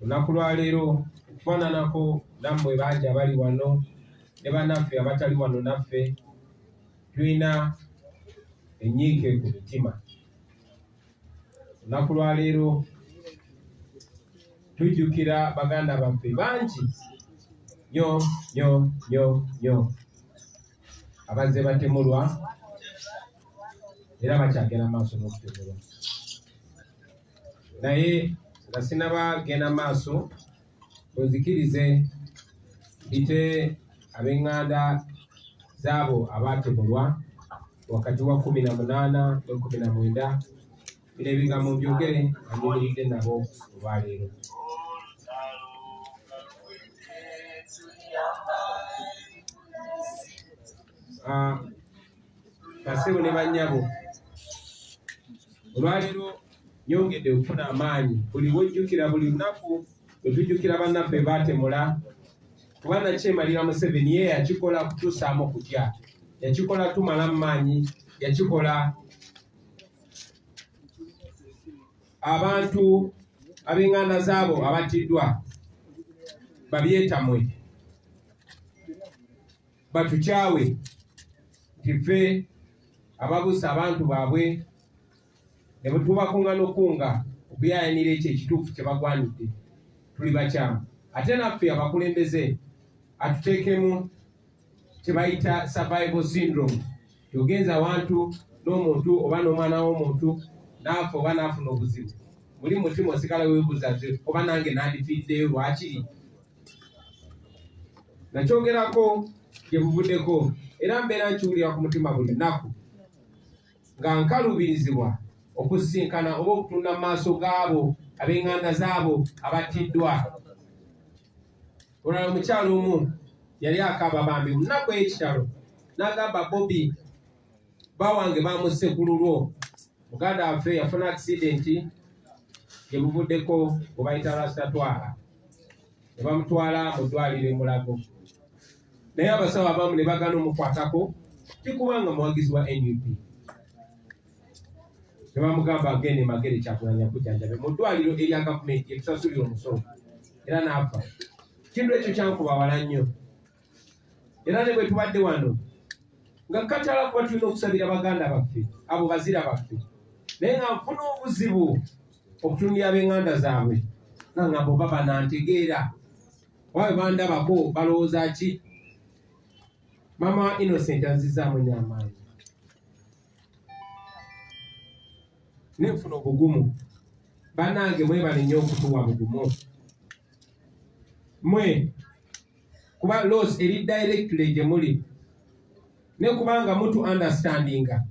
olunaku lwaleero okufaananako nammwe bangi abali wano ne banaffe abatali wano naffe tulina enyiike ku mitima olunaku lwaleero tujjukira baganda baffe bangi nyo nyo nyo nyo abazze batemulwa era bakyagenda maaso n'okutemulwa naye nga sinaba genda maaso munzikirize mpite ab'eŋŋanda zaabo abaatemulwa wakati wa kumi na munaana ne kumi na mwenda bino ebigambo mbyogere amuyimiridde nabo olwaleero ah, basebo ne banyabo olwaliro nyongedde okufuna amaanyi buli wojjukira buli lunaku wetujjukira bannaffe baatemula kuba nakyemalira museveni ye yakikola kutusaamu kutya yakikola tumala mu maanyi yakikola abantu ab'enganda zaabo abattiddwa babyetamwe batukyawe nti ffe ababusa abantu baabwe ne bwe tubakunga n'okukunga okuyayanira ekyo ekituufu kye bagwanidde tuli bakyamu ate naffe abakulembeze atuteekemu kye bayita survival syndrome yogenza awantu n'omuntu oba n'omwana w'omuntu naafa oba naafuna obuzibu muli mutima osigala webuuza oba nange nandifiddeyo lwakiri nakyogerako gye buvuddeko era mbeera nkiwulira ku mutima buli nnaku nga nkaluubirizibwa okusisinkana oba okutunda mu maaso gaabo ab'enganda zaabo abattiddwa olala omukyalo omu yali akaaba bambi munaku ekitalo n'agamba bobi bawange bamusse ku lulwo muganda waffe yafuna akisidenti gye buvuddeko gwe bayita rastatwara ne bamutwala mu ddwaliro e mulago naye abasawo abamu ne bagana omukwatako tikubanga muwagizi wa nup ne bamugamba agende magere kyakulanya kujanjabe mu ddwaliro erya gavumenti etusasulira omusolo era n'afa kintu ekyo kyankuba wala nnyo era ne bwe tubadde wano nga katala kuba tulina okusabira baganda baffe abo bazira baffe naye nga nfuna obuzibu okutunira ab'enganda zaabwe nga nga bo baba nantegeera oba bwe bandabako balowooza ki maama wa innocent anzizaamu nyo amaanyi nenfuna obugumu banange mwebalinyo okutuwa bugumu mwe kuba loss eri directly gye muli ne kubanga mutu understandinga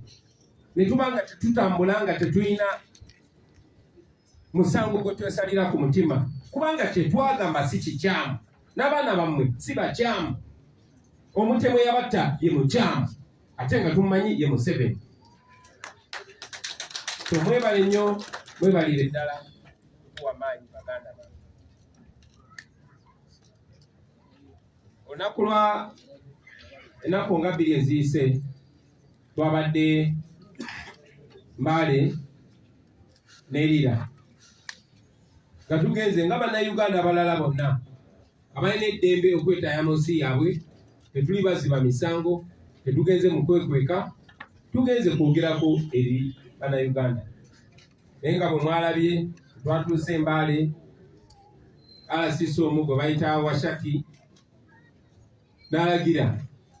ne tubanga tetutambula nga tetulina musango gwe twesalira ku mutima kubanga kyetwagamba si kikyamu n'abaana bammwe si bakyamu omutemu yabatta ye mukyamu ate nga tumumanyi ye museveni tomwebale nnyo mwebalire ddala kuwa maanyi baganda olunaku lwa ennaku nga bbiri eziyise twabadde mbaale nerira nga tugenze nga bannayuganda abalala bonna abalina eddembe okwetaaya mu nsi yaabwe tetuli baziba misango tetugenze mu kwekweka tugenze kwogerako eri bannayuganda naye nga bwe mwalabye twatuuse embaale alasisi omu gwe bayita washaki n'alagira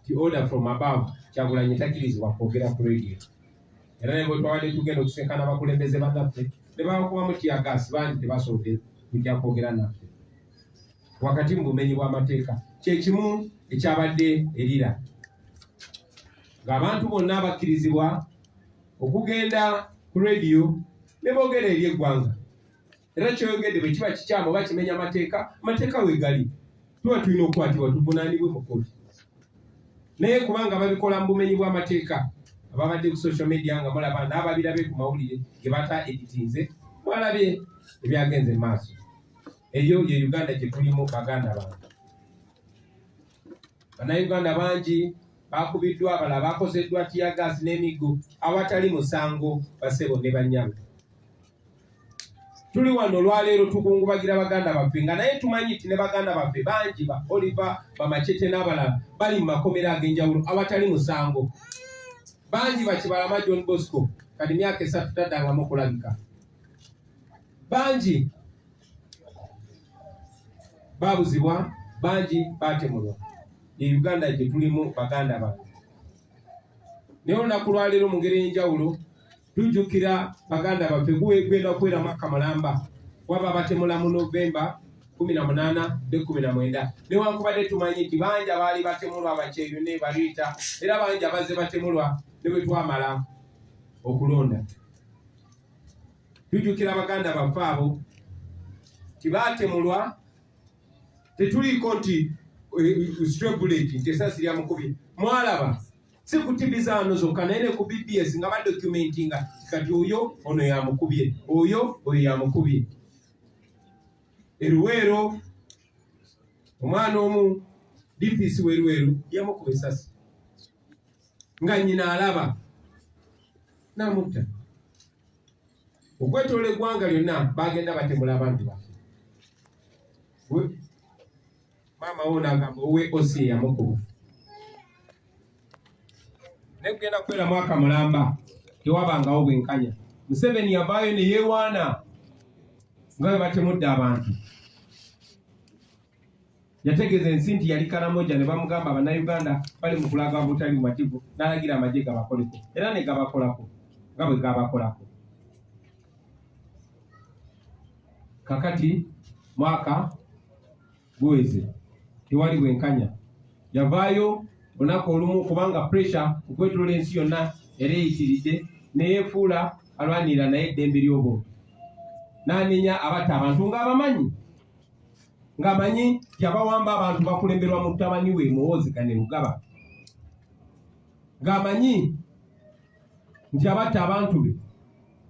ti order from above kyagulanyi takirizibwa kwogera ku radio era ne bwe twabadde tugenda okusinkana abakulembeze bannaffe ne babakubamu tiyagaasi bangi tebasobodde kujja kwogera naffe wakati mu bumenyi bw'amateeka kyekimu ekyabadde erira ng'abantu bonna abakkirizibwa okugenda ku rediyo ne boogera eri eggwanga era kyoyogedde bwe kiba kikyamu oba kimenya amateeka amateeka wegali tuba tulina okukwatibwa tuvunaanibwe mu kkooti naye kubanga babikola mu bumenyi bw'amateeka ababadde ku social media nga mulaba n'ababirabe ku mawulire ge bata editinze mwalabye ebyagenze mu maaso eyo ye uganda gye tulimu baganda bange Bannayuganda bangi baakubiddwa abalala baakozeddwa tiyagaasi n'emiggo awatali musango basebo ne bannyabo. Tuli wano olwaleero tukungubagira baganda baffe nga naye tumanyi nti ne baganda baffe bangi ba Oliver Bamacete n'abalala bali mu makomera ag'enjawulo awatali musango. Bangi bakibalama John Bosco kati myaka esatu taddanga mu kulabika. Bangi babuzibwa bangi batemulwa ye uganda gyetulimu baganda bange naye olunaku lwaleero mu ngeri enjawulo tujjukira baganda baffe gwegenda okubeera mwaka mulamba waba batemula mu novemba kumi na munaana ne kumi na mwenda newankubadde tumanyi nti bangi abaali batemulwa abakyeyo ne baliita era bangi abazze batemulwa ne bwe twamala okulonda tujukira baganda baffe abo tibaatemulwa tetuliiko nti eh, strebuleti nti esasi lyamukubye mwalaba si ku tivi zaano zokka naye ne ku bbs nga badokumenti nga kati oyo ono yamukubye oyo oyo yamukubye eruweero omwana omu dps weruweru yamukuba esasi nga nyina alaba n'amutta okwetoola eggwanga lyonna baagenda batemula abantu baffe maama wo naagamba owe osi eyamukuba naye kugenda kubeera mwaka mulamba tewabangawo bwenkanya museveni yavaayo ne yeewaana nga bwe batemudde abantu Yategeeza ensi nti yali Karamoja ne bamugamba Bannayuganda bali mu kulaga obutali bumativu n'alagira amagye gabakoleko era ne gabakolako nga bwe gaabakolako. Kakati mwaka guweze tewali bwenkanya. Yavaayo olunaku olumu kubanga puresha okwetolola ensi yonna era eyitiridde ne yeefuula alwanirira naye eddembe ly'obuntu n'anenya abatta abantu ng'abamanyi. ng'amanyi yabawamba abantu bakulemberwa mutabani we muwoozi kane lugaba ng'amanyi nti abatta abantu be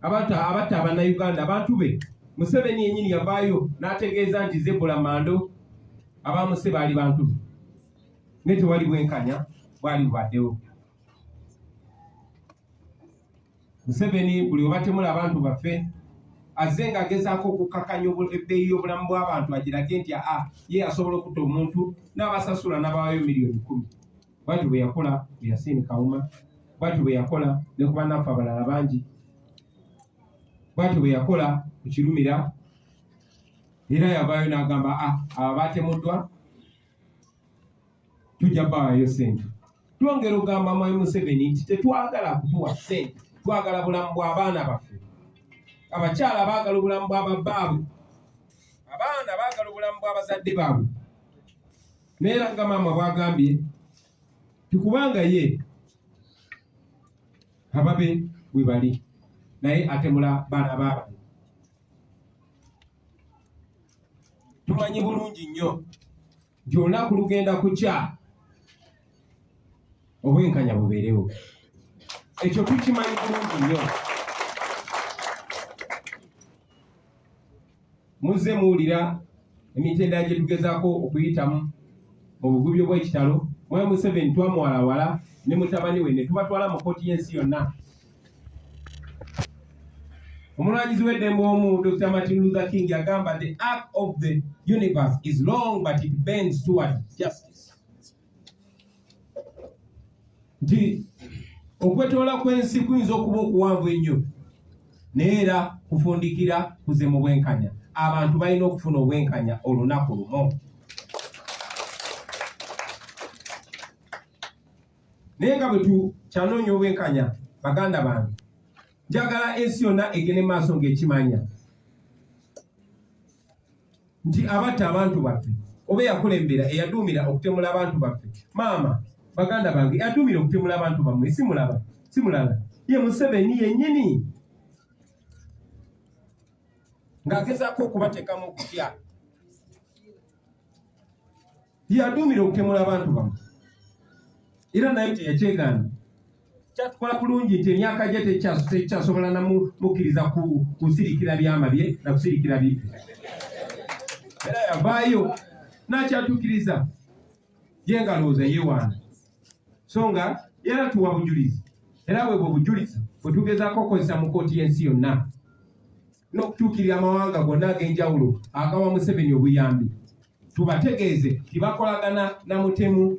abatta abatta abannayuganda abantu be museveni yenyini yavaayo n'ategeeza nti zebula mando abamuse baali bantu be naye tewali bwenkanya bwali bubaddewo Museveni buli webatemula abantu baffe azze nga agezaako okukkakanya ebbeeyi y'obulamu bw'abantu agirage nti aa ye asobola okutta omuntu n'abasasula n'abawayo miliyoni kumi bwatyo bwe yakola mu yasiini kawuma bwatyo bwe yakola ne ku bannaffe abalala bangi bwatyo bwe yakola ku kirumira era yavaayo n'agamba a ah, abo baatemuddwa tujja bawayo sente Twongera ogamba Mwami Museveni nti tetwagala kutuwa ssente, twagala bulamu bw'abaana baffe. Abakyala baagala obulamu bwa babbaabwe, abaana baagala obulamu bw'abazadde baabwe. Naye era nga maama bw'agambye nti kubanga ye ababe we bali naye atemula baana baabantu. Tumanyi bulungi nnyo. nti olunaku lugenda kukya obwenkanya bubeerewo ekyo tukimanyi bulungi nnyo muzze muwulira emitendera gye tugezaako okuyitamu mu bugubi obw'ekitalo mwe museveni twamwalawala ne mutabani we ne tubatwala mu kkooti y'ensi yonna omulwanyizi w'eddembe omu dr martin luther king yagamba the arc of the universe is long but it bends toward justice nti okwetoola kw'ensi kuyinza okuba okuwanvu ennyo naye era kufundikira kuze mu bwenkanya abantu balina okufuna obwenkanya olunaku lumu naye nga bwe tukyanoonya obwenkanya baganda bange njagala ensi yonna egende maaso ng'ekimanya nti abatta abantu baffe oba eyakulembera eyaduumira okutemula abantu baffe maama baganda bange eyaduumira okutemula abantu bammwe simulaba simulala ye museveni yennyini ng'agezaako okubateekamu okutya Yaduumira okutemula abantu bamu era naye teyakyegaana kyatukola bulungi nti emyaka gye tekyasobola namukkiriza kusirikira byama bye nakusirikira bi era yavaayo nakyatukiriza ye nga lowooza yewaana so nga era tuwa bujulizi era bwebwo obujulizi bwetugezaako okukozesa mu kooti y'ensi yonna n'okutuukirira amawanga gonna ag'enjawulo agawa Museveni obuyambi tubategeeze nti bakolagana na mutemu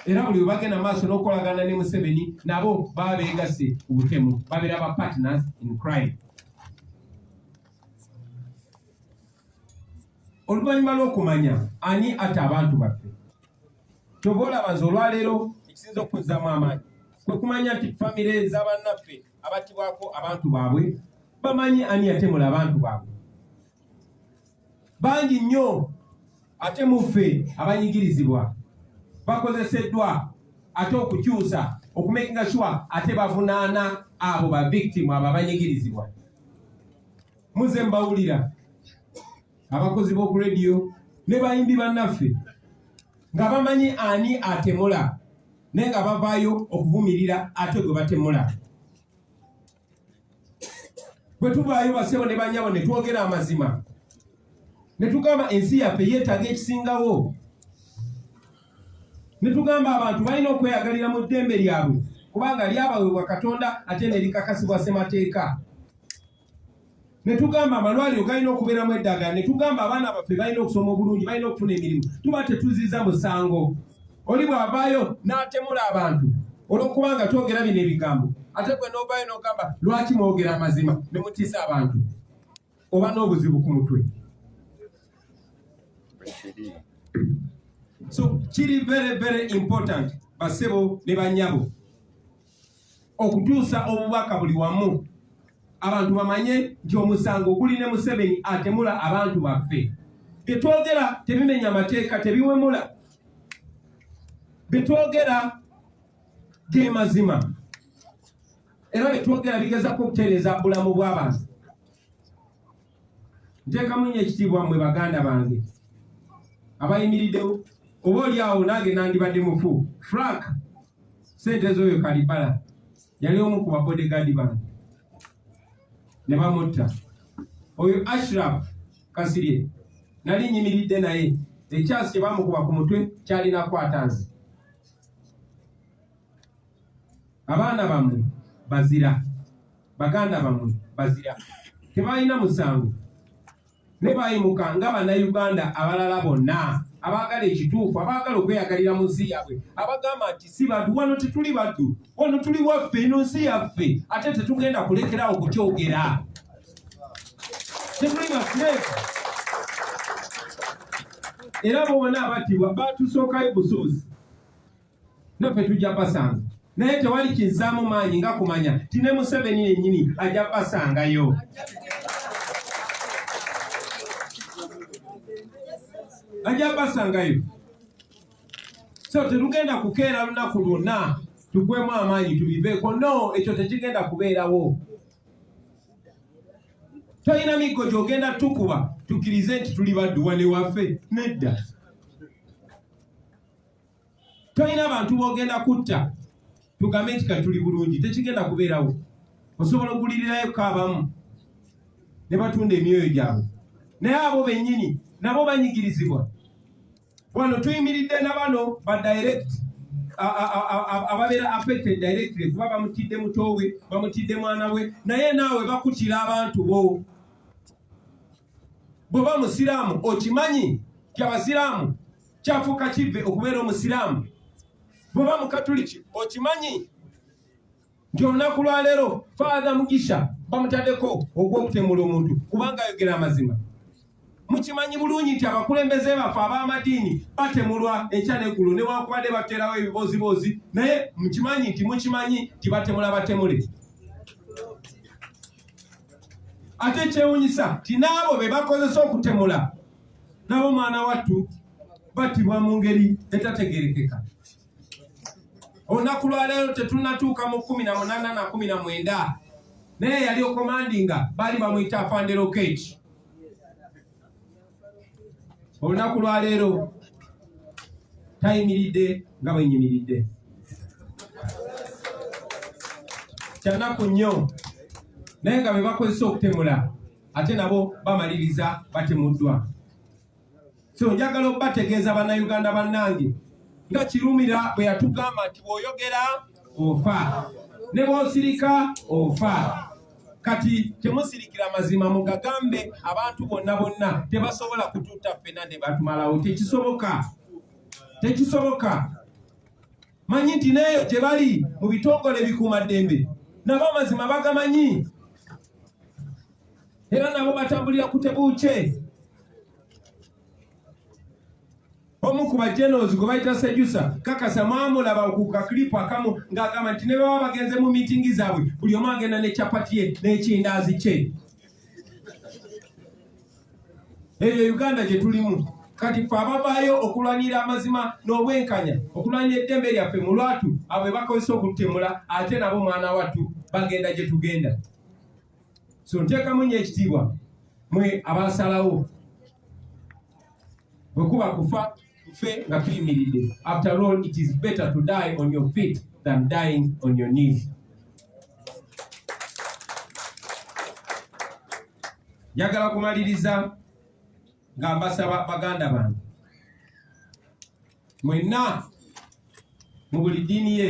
era buli webagenda maaso n'okukolagana ne Museveni nabo baba beegasse ku butemu babeera ba partners in crime oluvannyuma lw'okumanya ani ate abantu baffe kyova olaba nze olwaleero ekisinza okukuzzaamu amaanyi kwe kumanya nti famire z'abannaffe abattibwako abantu baabwe bamanyi ani yatemula abantu baabwe bangi nnyo ate muffe abanyigirizibwa bakozeseddwa ate okukyusa okumekinga shuwa ate bavunaana abo bavictimu abo abanyigirizibwa muze mbawulira abakozi b'oku rediyo ne bayimbi bannaffe nga bamanyi ani atemula naye nga bavaayo okuvumirira ate gwe batemula bwe tuvaayo basebo ne banyabo ne twogera amazima ne tugamba ensi yaffe yeetaaga ekisingawo ne tugamba abantu balina okweyagalira mu ddembe lyabwe kubanga lyabawebwa katonda ate ne likakasibwa ssemateeka netugamba amalwaliro galina okubeeramu eddagala netugamba abaana baffe balina okusoma obulungi balina okufuna emirimu tuba tetuziza musango oli bw'avaayo n'atemula abantu olwokubanga twogera bino ebigambo ate gwe n'ovaayo n'ogamba lwaki mwogera amazima ne mutiisa abantu oba n'obuzibu ku mutwe so kiri very very important basebo ne banyabo okutuusa obubaka buli wamu abantu bamanye nti omusango guli ne museveni atemula abantu baffe byetwogera tebimenya amateeka tebiwemula byetwogera ge mazima era byetwogera bigezako okutereeza bulamu bw'abantu nteekamu nnyo ekitiibwa mmwe baganda bange abayimiriddewo oba oli awo nange nandibadde mufu frank sente z'oyo kalibala yali omu ku babodegaadi bange ne bamutta oyo ashraf kasirye nali nyimiridde naye ekyasi kye bamukuba ku mutwe kyalina kwata nze abaana bamwe bazira baganda bamwe bazira tebalina musango ne bayimuka nga bannayuganda abalala bonna abaagala ekituufu abaagala okweyagalira mu nsi yaabwe abagamba nti si bantu wano tetuli baddu wano tuli waffe ino nsi yaffe ate tetugenda kulekerawo kukyogera tetuli basireefu era bona abattibwa batusookayo busuuzi naffe tujja basanga naye tewali kizzaamu maanyi nga kumanya ti ne museveni yennyini ajja basangayo ajja basangayo so tetugenda kukeera lunaku lwonna tugwemu amaanyi tubiveeko no ekyo tekigenda kubeerawo tolina miggo gyogenda tukuba tukirize nti tuli badduwa newaffe nedda tolina bantu bogenda kutta tugambe nti kati tuli bulungi tekigenda kubeerawo osobola ogulirirayo kaabamu ne batunda emyoyo gyabwe naye abo bennyini nabo banyigirizibwa wano tuyimiridde na bano ba direct ababeera affected directly kuba bamutidde mutoowe bamutidde mwana we naye naawe bakutira abantu bo bwoba musiraamu okimanyi ti abasiraamu kyafuuka kivve okubeera omusiraamu bwoba mukatuliki okimanyi nti olunaku lwaleero faatha mugisha bamutaddeko ogw'okutemula omuntu kubanga ayogera amazima mukimanyi bulungi nti abakulembeze baffe ab'amadiini batemulwa enkya neggulo newankubadde bateerawo ebibooziboozi naye mukimanyi nti mukimanyi nti batemula batemule ate kyewunyisa nti n'abo be bakozesa okutemula nabo mwana wattu battibwa mu ngeri etategerekeka olunaku lwaleero tetunatuuka mu kumi na munana na kumi na mwenda naye yali okomandinga baali bamuyita afandero keki olunaku lwaleero tayimiridde nga bwenyimiridde kyanaku nnyo naye nga bebakozesa okutemula ate nabo bamaliriza batemuddwa so njagala okubategeeza bannayuganda bannange nga kirumira bwe yatugamba nti bw'oyogera ofa ne bw'osirika ofa kati temusirikira mazima mugagambe abantu bonna bonna tebasobola kututta ffena ne batumalawo tekisoboka tekisoboka Manyi nti n'eyo gye bali mu bitongole bikuuma ddembe nabo amazima bagamanyi era nabo batambulira ku tebuukye. Omu ku bajenozi gwe bayita Sejusa kakasa mwamulaba ku kaklipu akamu ng'agamba nti ne baba bagenze mu miitingi zaabwe buli omu agenda ne kyapati ye n'ekindaazi kye. eyo uganda gye tulimu kati fe abavaayo okulwanira amazima n'obwenkanya okulwanira eddembe lyaffe mu lwatu abwe bakozesa okututemula ate nabo mwana wattu bagenda gye tugenda so nteekamu nnyo ekitiibwa mwe abasalawo bwe kuba kufa tufe nga tuyimiridde after all it is better to die on your feet than dying on your knees njagala kumaliriza nga mbasaba baganda bange mwenna mu buli ddiini ye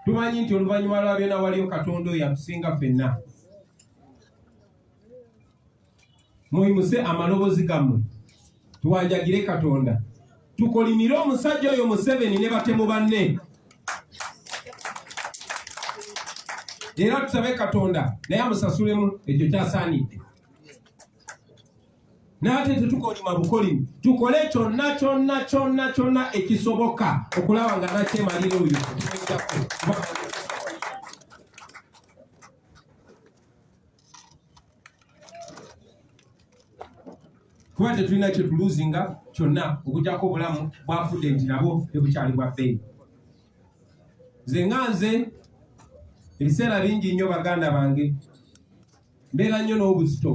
tumanyi nti oluvannyuma lwa byona waliyo katonda oyo atusinga fenna Muyimuse amalobozi gammwe tuwanjagire Katonda, tukolimire omusajja oyo Museveni ne batemu banne, era tusabe Katonda naye amusasulemu ekyo kyasaanidde. N'ate tetukolima bukolimi, tukole kyonna kyonna kyonna kyonna ekisoboka okulaba nga nakyemalira oyo kuba tetulina kyetuluzinga kyonna okujako obulamu bwafudde nti nabwo tebukyali bwa bbeeyi nze nga nze ebiseera bingi nnyo baganda bange mbeera nnyo n'obuzito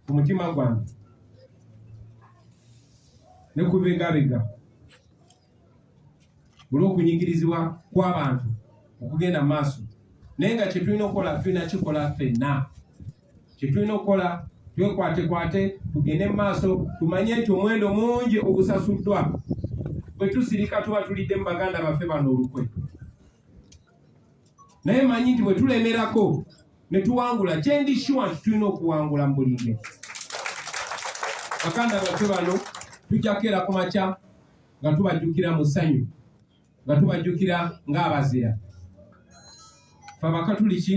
ku mutima gwange ne kubibegabega olw'okunyigirizibwa kw'abantu okugenda mu maaso naye nga kyetulina okukola tulina kikola ffenna kyetulina okukola twekwatekwate tugende mu maaso tumanye nti omuwendo mungi ogusasuddwa bwe tusirika tuba tulidde mu baganda baffe bano olukwe naye manyi nti bwe tulemerako ne tuwangula kyendi shuwa nti tulina okuwangula mu buli nge baganda baffe bano tujja kukeera ku makya nga tubajjukira mu ssanyu nga tubajjukira ng'abazira fe abakatuliki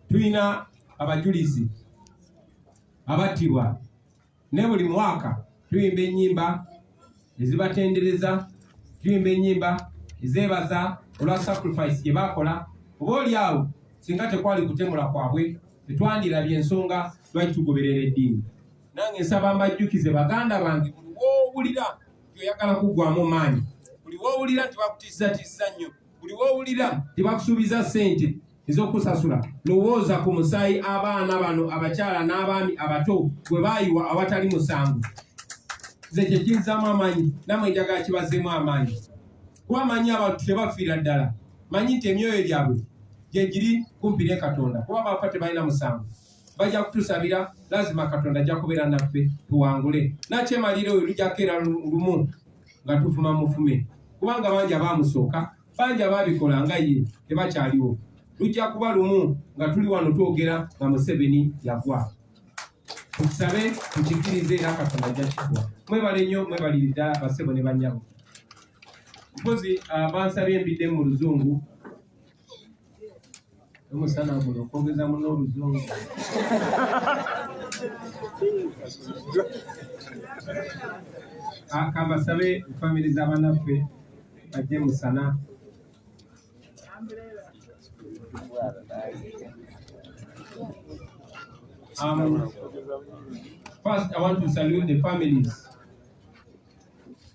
tulina abajulizi abattibwa ne buli mwaka tuyimba ennyimba ezibatendereza tuyimba ennyimba ezeebaza olwa sacrifice gye baakola oba oli awo singa tekwali kutemula kwabwe tetwandirabye ensonga lwaki tugoberera eddiini nange nsaba mbajjukize baganda bange buli wowulira nti oyagala kuggwamu maanyi buli wowulira nti bakutizzatizza nnyo buli wowulira nti bakusuubiza ssente ez'okusasula lowooza ku musaayi abaana bano abakyala n'abaami abato bwe baayiwa awatali musango nze kye kinzaamu amaanyi namwe njagala kibazeemu amaanyi kuba amanyi abantu tebafiira ddala manyi nti emyoyo gyabwe gyegiri kumpi ne katonda kuba bafa tebalina musango bajja kutusabira lazima katonda ajja kubeera naffe tuwangule nakyemalira oyo lujjako era lumu nga tufuma mufume kubanga bangi abaamusooka bangi abaabikola nga ye tebakyaliwo lujja kuba lumu nga tuli wano twogera nga museveni yagwa tukisabe tukikirize era katonda ajja kikuwa mwebale nnyo mwebaliri ddala basebo ne banyabo mpozi ah, bansabye embidde mu luzungu omusana guno okwogeza muno oluzungu kambasabe famire zabanaffe bajje musana Um, first, I want to salute the families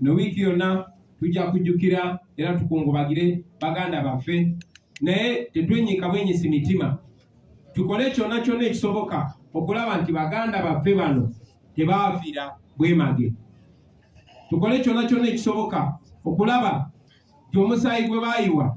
no wiiki yonna tujja kujjukira era tukungubagire baganda baffe naye tetwenyiika bwenyisi mitima tukole kyonna kyonna ekisoboka okulaba nti baganda baffe bano tebaafira bwemage tukole kyonna kyonna ekisoboka okulaba nti omusaayi gwe baayiwa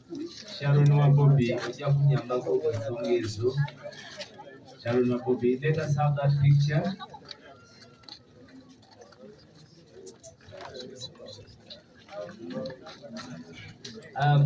Sharon wa Bobby ojja kunyambako ku nsonga ezo. Sharon wa Bobby, let us have that picture. Um,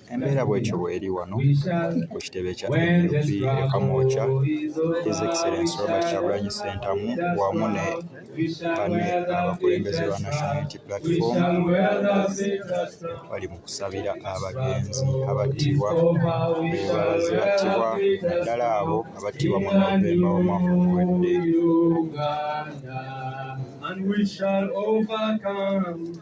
Embeera bwetyo bweri wano ku kitebe kya nup e Kamwokya, His Excellency Robert Kyagulanyi Ssentamu wamu ne banne abakulembeze ba National Unity Platform bali mu kusabira abagenzi abattibwa bebalaze battibwa naddala abo abattibwa mu Novemba w'omwaka oguwedde. And we shall overcome.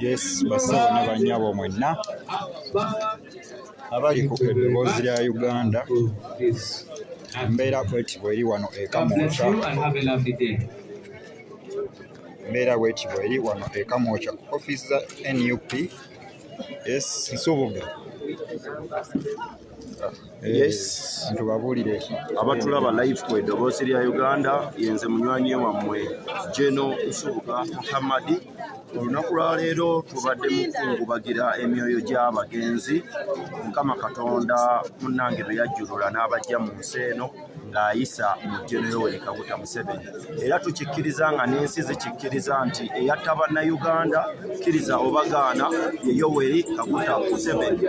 Yes, basawo ne banyabo mwenna abali ku eddoboozi lya Uganda embeera kweti bweri wano ekamuuca Mbeera bweti bweri wano e Kamwokya ku ofiisi za nup yes Nsubuga yes ntubabuulire abatulaba live ku eddoboosi lya uganda yenze munywanyi wammwe geno nsubuga muhammadi olunaku lwaleero tubadde mukungubagira emyoyo gy'abagenzi mukama katonda munnange beyajjulula n'abajja mu nsi eno ng'ayisa mu ddyo ne Yoweri Kaguta Museveni era tukikkiriza nga n'ensi zikikkiriza nti eyatta Bannayuganda kkiriza oba gaana ye Yoweri Kaguta Museveni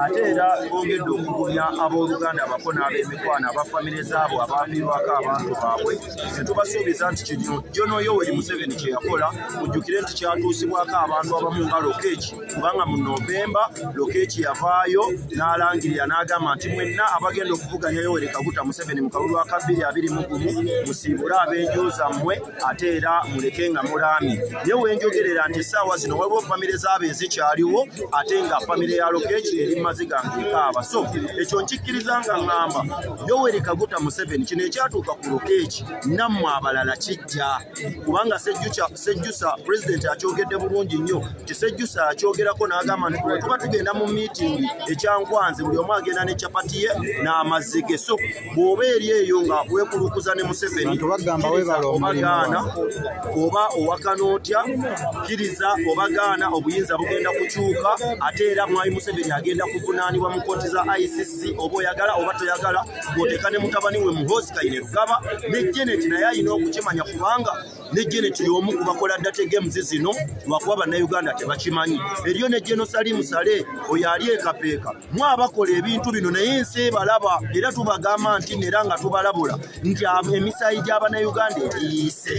ate era bongedde okugumya abooluganda abako n'ab'emikwano aba famire zaabo abaafiirwako abantu baabwe ne tubasuubiza nti kino Jono Yoweri Museveni kye yakola mujjukire nti kyatuusibwako abantu abamu nga lokeeki kubanga mu novemba lokeki yavaayo n'alangirira n'agamba nti mwenna abagenda okuvuganya yoweri kaguta museveni mu kalulu aka bbiri abiri mu gumu musiibule ab'enju zammwe ate era muleke nga mulaami naye wenjogerera nti essaawa zino waliwo famire zaabo ezikyaliwo ate nga famire ya lokeki eri maziga ngekaaba so ekyo nkikkiriza nga ŋŋamba yoweri kaguta museveni kino ekyatuuka ku lokeki nammwe abalala kijja kubanga sejjukya Sejjusa president akyogedde bulungi nnyo nti Sejjusa akyogerako n'agamba nti bwe tuba tugenda mu miitingi ekyankwanze buli omu agenda ne capati ye n'amazzi ge so bw'oba eri eyo nga weekulukuza ne Museveni obagaana oba owakana otya kkiriza obagaana obuyinza bugenda kukyuka ate era mwami Museveni agenda kuvunaanibwa mu kkooti za ICC oba oyagala oba toyagala bw'oteeka ne mutabani we Muhoozi Kainerugaba ne Janet naye alina okukimanya kubanga ne geneti y'omu ku bakola data games zino lwakuba bannayuganda tebakimanyi eriyo ne geno salimu sale oyo ali ekapeeka mu abakola ebintu bino naye ensi ebalaba era tubagamba nti neera nga tubalabula nti emisaayi gy'abanayuganda egiyiise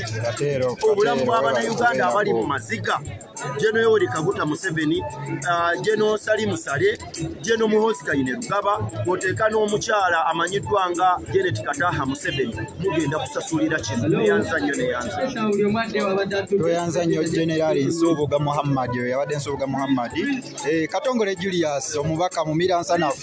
obulamu bw'abanayuganda abali mu maziga Jeno Yoweri Kaguta Museveni, uh, Jeno Sali Musale, Jeno Muhozi Kayine Lugaba, kwoteeka n'omukyala amanyiddwa nga Janet Kataha Museveni, mugenda kusasulira kino neyanza nnyo neyanza. Tweyanza nnyo Generali Nsubuga Muhammad, oyo yabadde Nsubuga Muhammad, eh, Katongole Julius omubaka mu Miransanafu.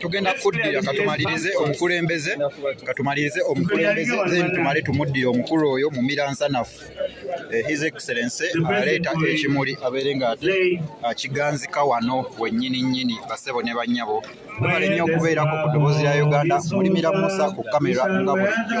tugenda kuddira katumalirize omukulembeze katumalirize omukulembeze then tumale tumuddire omukulu oyo mumira nsanafu eh, his excellency aleeta ekimuli abeere nga ate akiganzika wano wennyini nnyini basebo ne bannyabo webale nnyo okubeerako ku ddoboozi lya uganda mulimira musa ku kamera nga bulijjo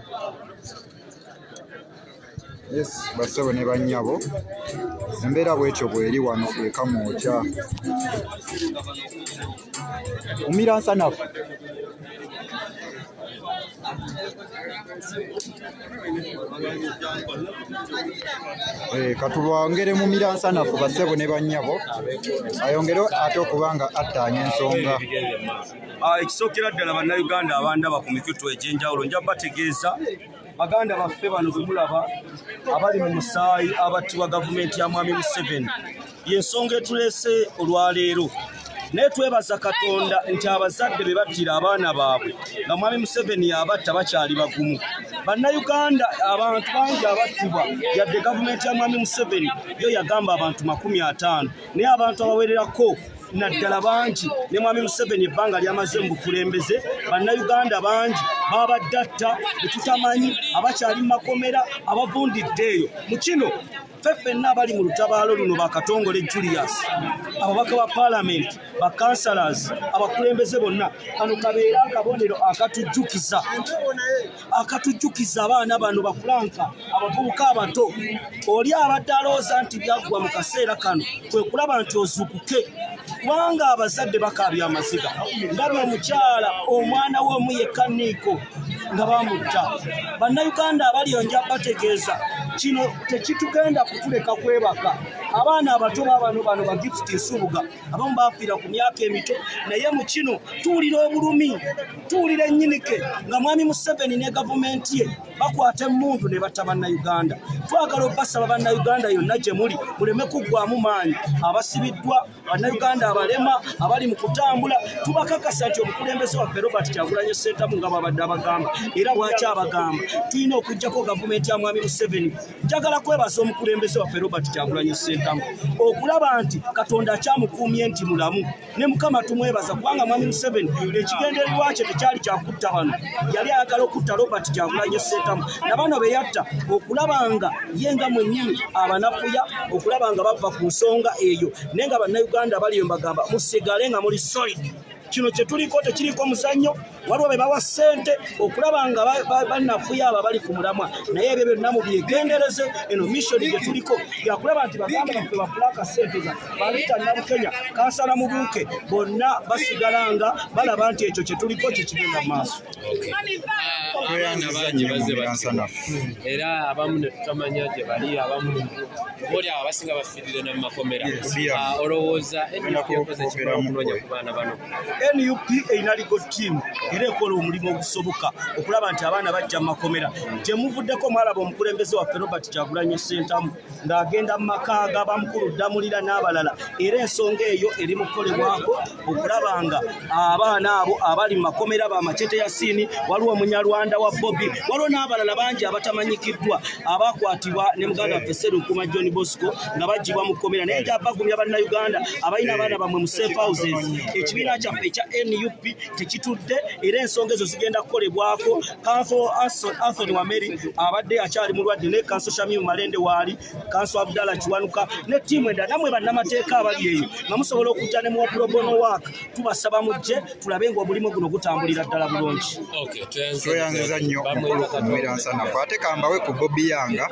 yes bassebo ne bannyabo embeera bwetyo bweri wano ekamwokya umira nsanafu Eh, katulwongere mu miransanafu basebo ne bannyabo ayongere ate okuba nga attaanya ensonga Ah, ekisookera ddala bannayuganda abandaba ku mikutu egy'enjawulo nja bategeeza baganda baffe bano bwe mulaba abali mu musaayi abattibwa gavumenti ya mwami museveni y'ensonga etuleese olwaleero naye twebaza katonda nti abazadde be battira abaana baabwe nga mwami museveni yabatta bakyali bagumu bannayuganda abantu bangi abattibwa yadde gavumenti ya mwami museveni yo yagamba abantu makumi ataano naye abantu abawererako naddala bangi ne mwami museveni ebbanga lyamaze mu bukulembeze bannayuganda bangi babadde atta betutamanyi abakyali mu makomera abavundidde eyo mu kino ffe ffenna abali mu lutabaalo luno bakatongole julius ababaka ba paalamenti bakansalas abakulembeze bonna kano kabeera akabonero akatujjukiza akatujjukiza abaana bano bafulanka abavubuka abato oli abadde alowooza nti byaggwa mu kaseera kano kwe kulaba nti ozukuke kubanga abazadde bakaabya amaziga ndaba omukyala omwana we omu yekka niiko nga bamutta bannayuganda abali onja bategeeza kino tekitugenda kutuleka kwebaka abaana abato babano bano bagifti nsubuga abamu bafiira ku myaka emito naye mu kino tuwulira obulumi tuwulira ennyinike nga mwami museveni ne gavumenti ye bakwata emmundu ne batta bannayuganda twagala obasaba bannayuganda yonna gye muli muleme kuggwamu maanyi abasibiddwa bannayuganda abalema abali mu kutambula tubakakasa nti omukulembeze waffe robert kyagulanye sentamu nga babadde abagamba era bwaki abagamba tulina okugjako gavumenti ya mwami museveni njagala kwebaza omukulembeze waffe robert kyagulanye sentamu okulaba nti katonda akyamukuumye nti mulamu ne mukama tumwebaza kubanga mwami museveni ekigendererwa kye tekyali kyakutta bano yali ayagala okutta robert gyagulanye sentamu nabano beyatta okulaba nga ye nga mwenyini abanafuya okulaba nga bava ku nsonga eyo naye nga bannauganda baliyo mbagamba musigale nga muli solid kino kyetuliko tekiriko muzannyo waliwo be bawa ssente okulaba nga banafuya abo abali ku mulamwa naye ebyo byonna mubyegendereze eno missoni gye tuliko yakulaba nti baganda baffe bafulaka ssente za balita nabukenya kansala mubuuke bonna basigala nga balaba nti ekyo kye tuliko kye kigenda mu maaso era abamu ne tutamanya gye bali abamu oli abasinga nup erina ligo tiimu era ekola omulimu ogusoboka okulaba nti abaana bajja mu makomera gyemuvuddeko mwalaba omukulembeze waffe robert kyagulanyo sentamu ng'agenda mu maka ga bamukulu ddamulira n'abalala era ensonga eyo eri mu kukolebwako okulaba nga abaana abo abali mu makomera ba macete ya siini waliwo omunyarwanda wa bobi waliwo n'abalala bangi abatamanyikiddwa abakwatibwa ne muganda waffe serunkuma john bosco nga bagibwa mu kkomera naye nja bagumya bannayuganda abalina abaana bammwe mu safe houses ekibiina kyaffe ekya nup tekitudde era ensonga ezo zigenda kukolebwako kanso anthony wameri abadde akyali mulwadde ne kanso shamimu malende waali kanso abdala kiwanuka ne tiimu endala namwe bannamateeka abali eyo nga musobola okujja ne muwa probono waak tubasaba mujje tulabe nga omulimu guno gutambulira ddala bulungi tweyanziza nnyo omukulu okumira nsanafu ate kambawe ku bobi yanga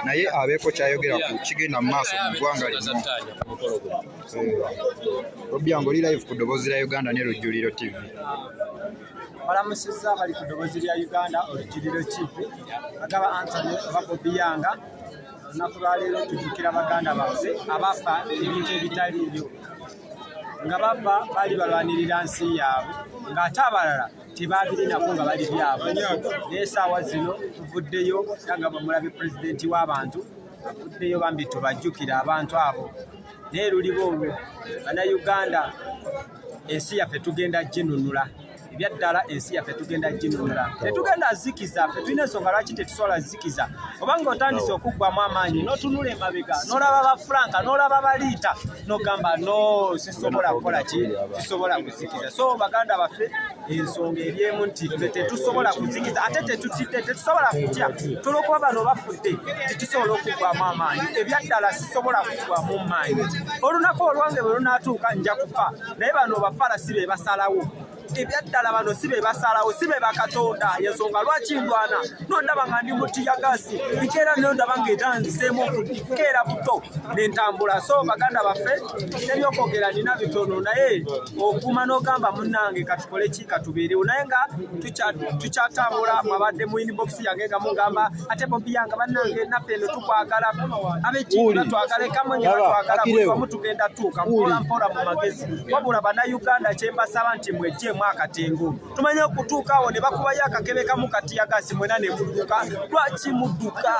naye abeeko kyayogera ku kigenda mu maaso mu ggwanga lino bobi yanga oli live ku ddoboozi lya uganda ne lujjuliro tv balamusizza bali ku ddoboozi lya uganda olujjuliro tv agaba antony oba bobi yanga olunaku lwaleero tujukira baganda baffe abafa ebintu ebitaliibyo nga bava bali balwanirira nsi yaabwe ng'ate abalala tebabirinako nga bali byabwe naye saawa zino tuvuddeyo era nga bamulabe pulezidenti w'abantu avuddeyo bambi tubajjukira abantu abo naye luliba olwo banauganda ensi yaffe tugenda ginunula ebyaddala ensi yaffe tugenda ginunula tetugenda zikiza fe tulina ensonga lwaki tetusobola zikiza obanga otandise okuggwamu amaanyi notunula emabega nolaba ba franka nolaba baliita nogamba no sisobola kukola ki sisobola kuzikiza so baganda baffe ensonga eryemu nti fe tetusobola kuzikiza ate tetutidde tetusobola kutya tolokuba bano bafudde titusobola okuggwamu amaanyi ebyaddala sisobola kuggwamu maanyi olunaku olwange bwe lunatuuka nja kufa naye bano bafala si be basalawo ebyaddala bano si be basalawo si be bakatonda yensonga lwaki ndwana nondaba nga ndi mutiyagasi nkeera nondaba nga etanziseemu okukeera buto nentambula so baganda baffe nebyokwogera nina bitono naye okuma nogamba munange katukoleki katubeerewo naye nga tukyatambula mwabadde mu inbox yange nga mugamba ate bobi yanga banange naffe eno tukwagala abekiki batwagala ekamonye batwagala buli wamu tugenda tuuka mpola mpola mu magezi wabula bannayuganda kye mbasaba nti mwejjeemu akatengo tumanye okutuuka awo ne bakubayo akakebe kamu katiyagasi mwena ne mudduka lwaki mudduka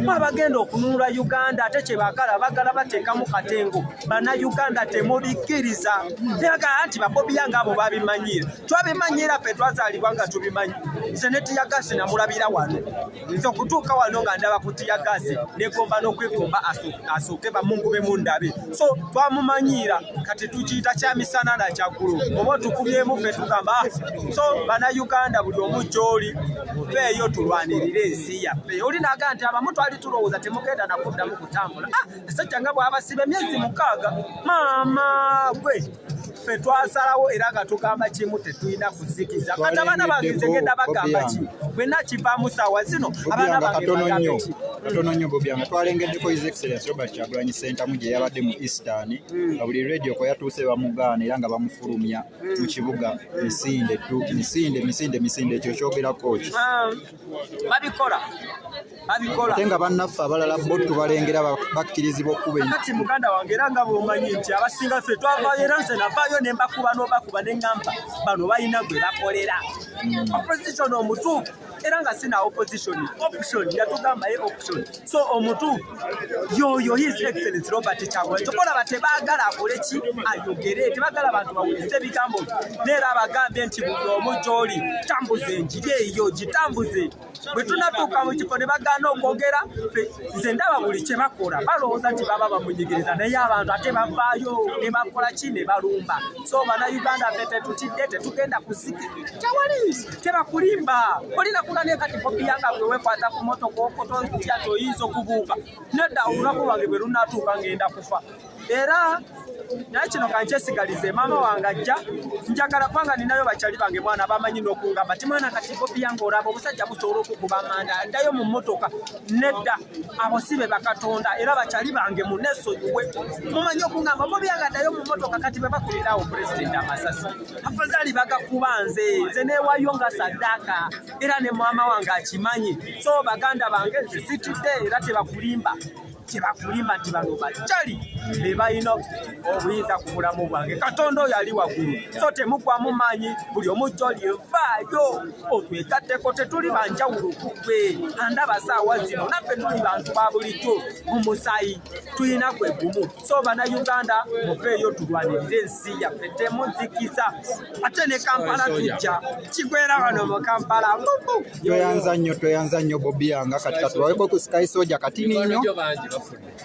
mwabagenda okununula uganda ate kye bagala bagala bateekamu katengo bana Uganda temubikiriza tebagala nti babobiya nga abo babimanyira twabimanyira fe twazalibwa nga tubimanyi nze ne tiyagasi namulabira wano nze okutuuka wano nga ndaba ku tiyagasi negomba n'okwekomba asooke bamungube mundabe so twamumanyiira kati tukiyita kya misana na kyaggulo oba otukumyemu fe tugamba ah, so bana Uganda buli omu gyoli feeyo tulwanirire ensi yaffe oli naga nti abamu twali tulowooza temugenda nakuddamu kutambula ah, ekisajja nga bwabasiba emyezi mukaaga maama gwe ffe twasalawo era nga tugamba kimu tetulina kuzikiza kati abaana bange ntegenda bagamba ki bwena kivaamu saawa zino abaana bange katono nnyo bobi nga twalengeddeko his excellence robert kyagulanyi sentamu gye yabadde mu eastern nga buli radio kwe yatuuse bamugaana era nga bamufulumya mu kibuga misinde tu misinde misinde misinde ekyo kyogerako ki babikola babikola ate nga bannaffe abalala bo tubalengera bakkirizibwa okuba kati muganda wange era nga bwomanyi nti abasinga ffe twavayo era nze navaayo ne mbakuba n'obakuba ne ŋŋamba bano balina gwe bakolera opposition omutuufu era nga sina opposition option yatugamba ye option so omutuufu yoyo his excellence robert kyagulanyi tokolaba tebagala akole ki ayogere tebagala bantu bawulise ebigambo neera abagambye nti buli omu gyoli tambuza enjiri eyo gitambuze bwe tunatuuka mu kifo ne bagaana okwogera nze ndaba buli kye bakola balowooza nti baba bamunyigiriza naye abantu ate bavaayo ne bakola ki ne balumba so bana uganda fe tetutidde tetugenda kuziki tewali tebakulimba olina kula ne kati bobi yanga gwe wekwata ku moto kwokoto ntya toyinza okubuuka nedda olunaku lwange bwe lunatuuka ngenda kufa era naye kino kankyesigalize maama wange ajja njagala kubanga ninayo bakyali bange mwana bamanyi n'okungamba ti mwana kati bobi yanga olaba obusajja busobola okukuba amanda ndayo mu motoka nedda abo si be bakatonda era bakyali bange munesonyiwe mumanyi okugamba bo byagaddayo mu motoka kati be bakulirawo pulezidenti amasasi afazali bagakuba nze nze newayo nga saddaaka era ne maama wange akimanyi so baganda bange nze situdde era tebakulimba tebakulimba nti bano bakyali be balina obuyinza ku bulamu bwange katonda oyo ali waggulu so temugwamu maanyi buli omujjo lyevaayo otwegatteko tetuli banjawulo kugwe andaba saawa zino naffe tuli bantu ba bulijjo mu musaayi tulina gwe gumu so bana uganda muveeyo tulwanirire ensi yaffe temuzikiza ate ne kampala tujja kigwera wano mu kampala tweyanza nnyo tweyanza nnyo bobi yanga kati katulaweko ku sky soja katini nnyo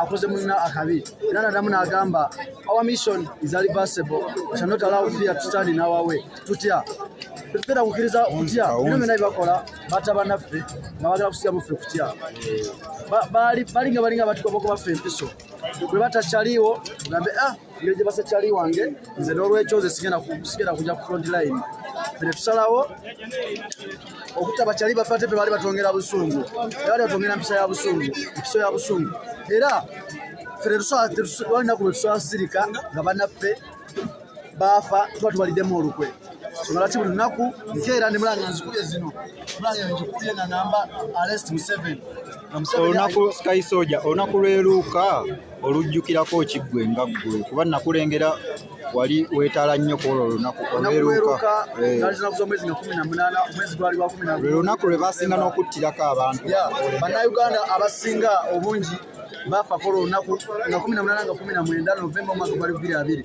akoze munna akabi era nadamu n'agamba our mission is reversible shall not allow fear to stand in our way tutya tetutera kukkiriza kutya bino byonna byebakola bata banaffe nga bagala kusigamu ffe kutya balinga balinga batukoba okuba ffe empiso bwe batakyaliwo gambe ah ngeri gye basekyali wange nze n'olwekyo nze sigenda kujja ku front line fene tusalawo okutta bakyali bafate fe baali batwongera busungu era baali batwongera mpisa ya busungu empiso ya busungu era fene tusalinaku lwe tusala sirika nga banaffe baafa tuba tubaliddemu olukwe lwaki buli lunaku nkeera ne mulanga nzikubye zino mulanga ngikubye nga namba arest museveni olunaku sky soja olunaku lweruuka olujjukirako ki ggwe nga ggwe kuba nakulengera wali weetaala nnyo ku olwo olunaku olweruuka eh. lwe lunaku lwe basinga n'okuttirako abantu bannayuganda abasinga obungi baafa ku olwo olunaku nga kumi na munaana nga kumi na mwenda novemba omwaka gwali bbiri abiri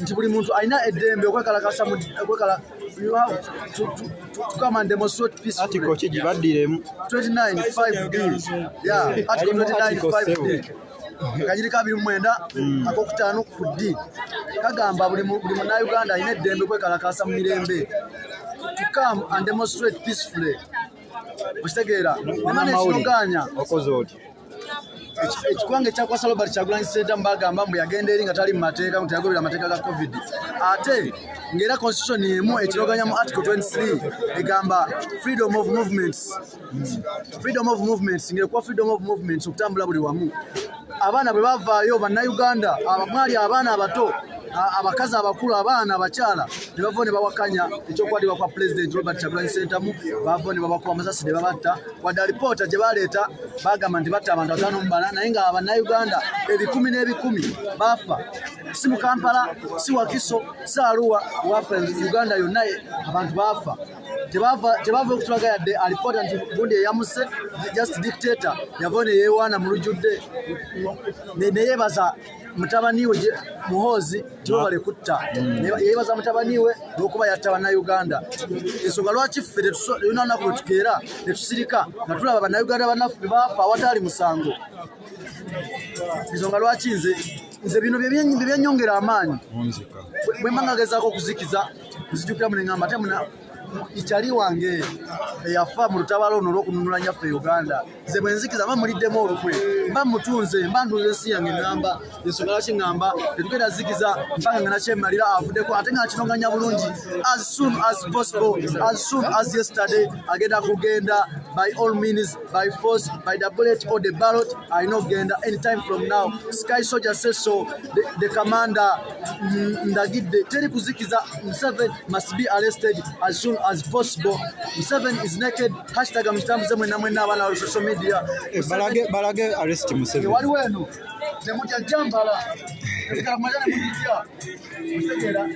nti buli muntu alina eddembe okwekalakasa kigibaddiremu 29 kanyiri kabiri mwenda hmm. akokutaano ku ddi kagamba buli munauganda alina eddembe kwekalakasa mu mirembe to come and demonstrate peacefully okitegeera emana ekinogaanya ekikwanga ekyakwasa robert kyagulanyi senta mubagamba mbu yagenda eri nga tali mumateeka nti yagoberera amateeka ga covid ate ngaera constitution emu ekiroganya mu article 23 egamba freedom of movements freedom of movements ngaekuwa freedom of movements okutambula buli wamu abaana bwe bavaayo bannauganda mwali abaana abato abakazi abakulu abaana abakyala nebavao nebawakanya ekyokwatibwa kwa pulezidenti robert kyagulanyi sentamu bavao nebabakuba amasasi nebabatta wadde alipoota gye baleeta bagamba nti batta abantu bataano mu bana naye nga bannayuganda ebikumi n'ebikumi baafa si mu kampala si wakiso si aruwa wafe uganda yonna abantu baafa tebava okutulaga yadde alipoota nti gundi eyamuse just dictator yavayo neyewaana mu lujjudde neyebaza mutabani we muhoozi tibabale kutta mm. yebaza mutabani we lwokuba yatta bannayuganda ensonga lwaki ffe yona lunaku lwetukeera netusirika nga tulaba bannayuganda banaffe baafa awataali musango ensonga lwaki nze nze bino byebyanyongera amaanyi bwemba ngagezako okuzikiza nzijukira muneamba ate itali wange eyafa mu lutabaalo luno olw'okununula nyaffe e uganda nze bwe nzikiza mba muliddemu olukwe mba mutunze mba ntunze ensi yange ŋŋamba ensonga lwaki ŋŋamba tetugenda zikiza mpanga nga nakyemalira avuddeko ate nga nakinoŋŋanya bulungi as soon as possible as soon as yesterday agenda kugenda by all means by force by the bullet or the ballot alina okugenda anytime from now sky soldier say so the, the commander ndagidde teri kuzikiza museven must be arrested as soon as possible museven is naked hashtag mukitambuze mwena mwena abana wa social media eh, balage balage arrest museven wali wenu nemutya jambala kamajana mutya mutegera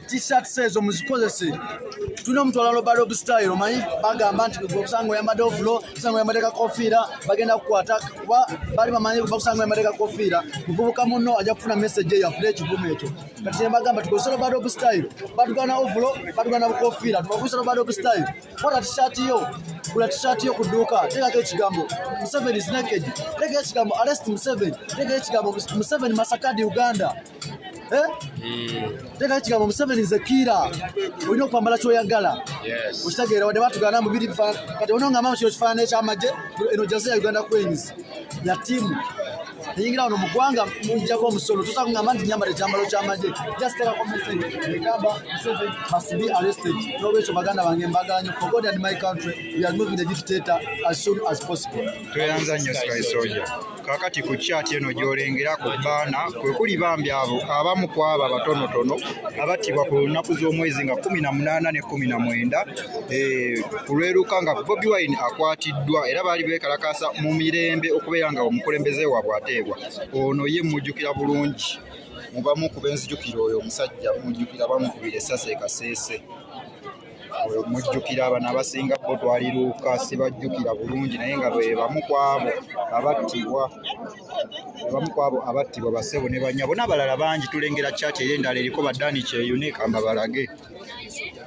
t-shirts ezo muzikozese tulina omutwala loba rob style omanyi bagamba nti obusanga oyambadde ovulo obusanga oyambadde kakofiira bagenda kukwata kuba bali bamanyi bakusanga emateeka kofiira muvubuka munno ajja kufuna message eyo afune ekivumo ekyo kati nembagamba tukozesa lobadog style batugana ovulo batugana bukofiira tubakozesa lobadog style kola tishati yo kula tishati yo ku dduuka teekako ekigambo museveni is naked teeka ekigambo arrest museveni teeka ekigambo museveni masakadi uganda Eh? Hmm. Teka kigambo Museveni nze kiira olina okwambala kyoyagala okitegeera wadde batugana mu biri kati ono ngamba kino kifaanana ekyamagye eno jaze ya uganda queens ya tiimu eyingira wano mu ggwanga mujjako omusolo tusa kugamba nti nyambala ekyambalo kyamagye jastekako message egamba Museveni must be arrested n'olwekyo baganda bange mbagala nyo for God and my country we are moving the dictator as soon as possible tweyanza nnyo sky soldier Kaakati ku kyati eno gy'olengera ku bbaana kwe kuli bambi abo abamu ku abo abatonotono abattibwa ku lunaku z'omwezi nga kkumi na munaana ne kkumi na mwenda eh, ku lweruka nga Bobi Wine akwatiddwa era baali beekalakaasa mu mirembe okubeera nga omukulembeze waabwe ateebwa ono ye mmujjukira bulungi mu bamu ku benzijukira oyo omusajja mmujjukira bamukubira essasi e Kasese. oyo mujjukira abana abasinga bo twaliruuka sibajjukira bulungi naye nga bebamu kwabo abattibwa abamu kwabo abattibwa basebo ne banyabo n'abalala bangi tulengera kyati era endala eriko badani kyeyune kamba balage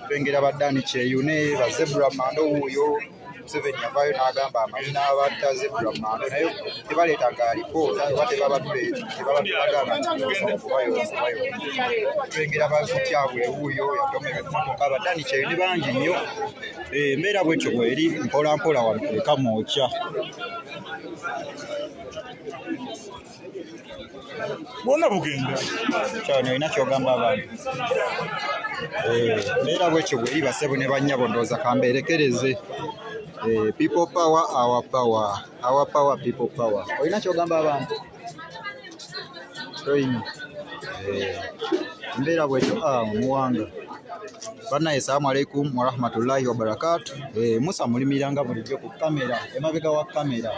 tulengera badani kyeyune bazebra mando wuuyo museveni yavaayo n'agamba amazina abatta zebra mando naye tebaleetaga alipoota oba tebabatulagana tulengera bakutyabwe wuuyo yatoma ebimotoka badani kyeyo ne bangi nnyo eh, embeera bwetyo bweri mpolampola wano ekamu okya bwona bugenda kyona olina kyogamba abantu eh, neera bwekyo bweyiba sebo ne banyabo ndooza kambeerekereze eh, people power our power our power people power olina kyogamba abantu toyina eh, mbeera bwekyo ah, muwanga banaye salamu alaikum warahmatullahi wabarakatu musa mulimiranga bulijjo ku kamera emabega wa kamera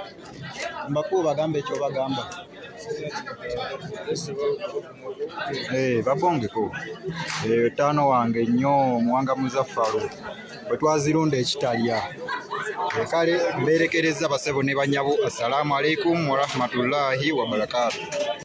mbakuu bagambe ekyo bagamba eh, babongeko eyo eh, taano wange nnyo omuwanga muzaffalu bwe twazirunda ekitalya eh, kale mbeerekereza basebo ne banyabo assalamu alaikum warahmatullahi wabarakatu